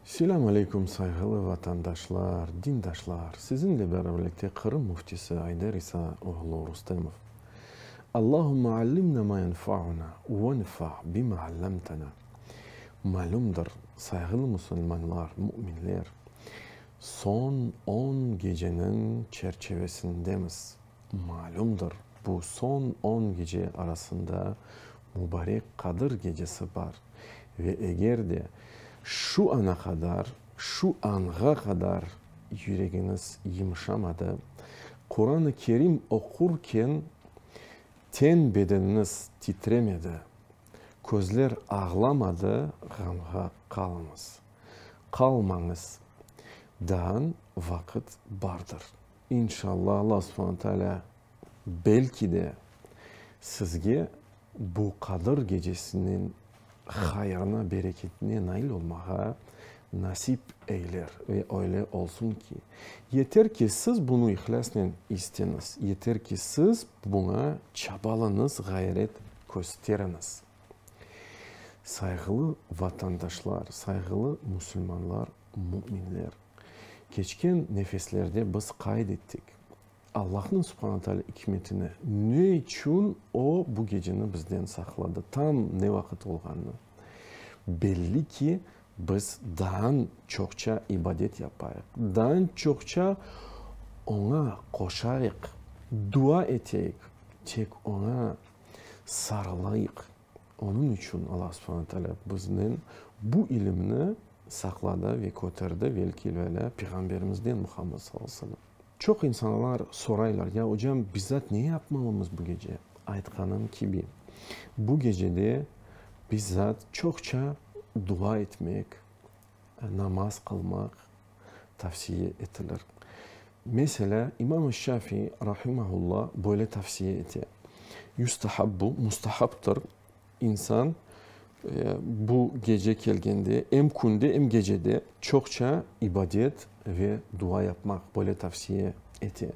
Selâm aleykum, sayğılı vatandaşlar, dindaşlar! Siziñle beraberlikte Qırım Müftisi Ayder İsa oğlu Rustemov. Allahümme allimna ma yenfauna, venfa bima allamtana. Malümdir, sayğılı musulmanlar, müminler, Soñ on geceniñ çerçevesindemiz. Malümdir, bu soñ on gece arasında Mubarek Qadir gecesi bar. Ve eger de şu ana qadar, şu anğa qadar yüregiñiz yımşamadı, Quran-ı Kerim oqurken ten bedeniniz titremedi, közler ağlamadı, ğamğa qalıñız. Qalmañız, daan vaqıt bardır. İnşalla Alla subhana taalâ belki de sizge bu Qadır gecesiniñ hayırına, bereketine nail olmağa nasip eyler ve öyle olsun ki, yeter ki siz bunı ihlâsnen isteñiz, yeter ki siz buña çabalañız, ğayret kösteriñiz. Sayğılı vatandaşlar, sayğılı musulmanlar, müminler! Keçken nefeslerde biz qayd ettik, Allahnıñ subhana taala ikmetini, ne içün O bu geceni bizden saqladı, tam ne vaqıt olğanını. Belli ki, biz daan çoqça ibadet yapayıq, daan çoqça Oña qoşayıq, dua eteyik, tek Oña Sarılayıq. Onıñ içün Alla subhana taalâ biznen bu ilimni saqladı ve köterdi velkil-velâ Peyğamberimizden Muhammad sallallahu aleyhi ve sellem. Çoq insanlar soraylar, ya ocam, bizzat ne yapmalımız bu gece? Aytqanım kibi, bu gecede bizzat çoqça dua etmek, Namaz qılmaq tavsiye etilir. Meselâ, İmam-ı Şafii rahimehullah böyle tavsiye ete, Yüstahabbu, mustahaptır, insan bu gece kelgende, em künde, em gecede çoqça ibadet ve dua yapmaq, böyle tavsiye ete.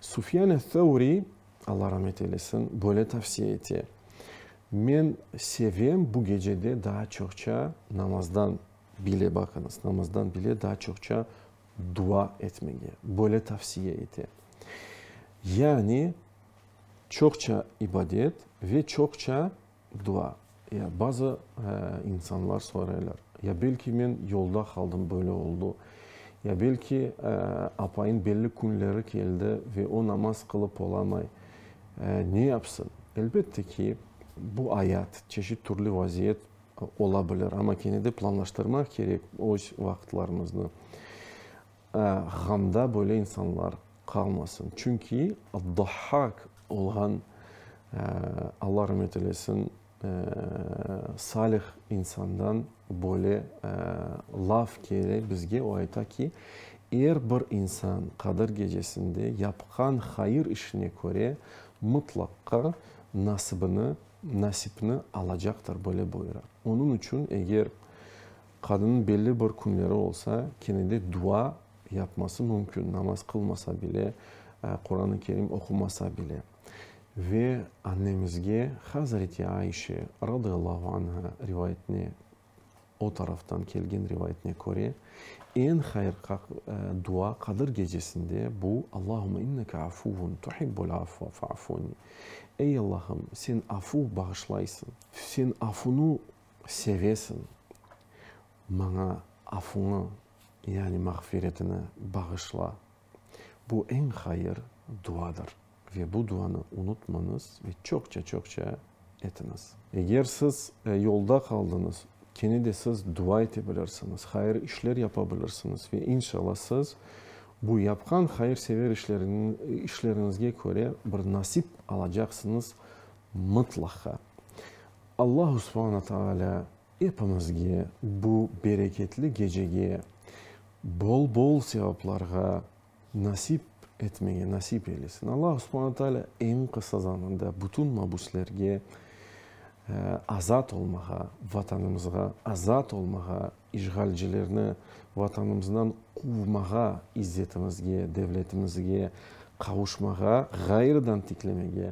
Sufyan-e Thavri Alla ramet eylesin, böyle tavsiye ete, Men sevem bu gecede daa çoqça namazdan bile, baqıñız, namazdan bile daa çoqça dua etmege, böyle tavsiye ete. Yani çoqça ibadet ve çoqça Dua. Ya bazı insanlar sorayalar, ya belki men yolda qaldım böyle oldu, ya belki apayım belli künleri keldi ve o namaz qılıp olamay, ne yapsın? Elbette ki, bu ayat, çeşit türlü vaziyet ola bilir, amma kene de planlaştırmaq kerek öz vaqıtlarımıznı. Ğamda böyle insanlar qalmasın. Çünki Dahhak olğan, Alla rımet eylesin, salih insandan böyle laf kele bizge, o ayta ki, er bir insan Qadir Gecesinde yapqan hayır işine köre mıtlaqqa nasibini, nasipni alacaqtır, böyle buyura. Onıñ içün eger Qadınnıñ belli bir künleri olsa, kene de dua yapması mümkün, namaz qılmasa bile, Quran-ı Kerim oqumasa bile. Ve annemizge Hazreti Ayşe, radıyallahu anha, rivayetine, o taraftan kelgen rivayetine köre, eñ hayır dua Qadır Gecesinde bu, Allahümme inneke afuvun tuhibbul afve fa'funi, Ey Allahım, sen afuv, bağışlaysıñ, sen afunu sevesiñ, maña afuñı, yani mağfiretini bağışla. Bu eñ hayır duadır ve bu duanı unutmañız ve çoqça-çoqça etiñiz. Eger siz yolda qaldıñız, kene de siz dua ete bilirsiñiz, hayır işler yapa bilirsiñiz ve inşalla siz bu yapqan hayırsever işleriñizge köre bir nasip alacaqsıñız mıtlaqa. Allahu subhana taalâ epimizge bu bereketli gecege bol-bol sevaplarğa nasip etmege nasip eylesin. Allahu subhana taalâ eñ qısa zamanda bütün mabüslerge azat olmağa, Vatanımızğa azat olmağa, işğalcilerni Vatanımızdan quvmağa, izzetimizge, devletimizge qavuşmağa, ğayrıdan tiklemege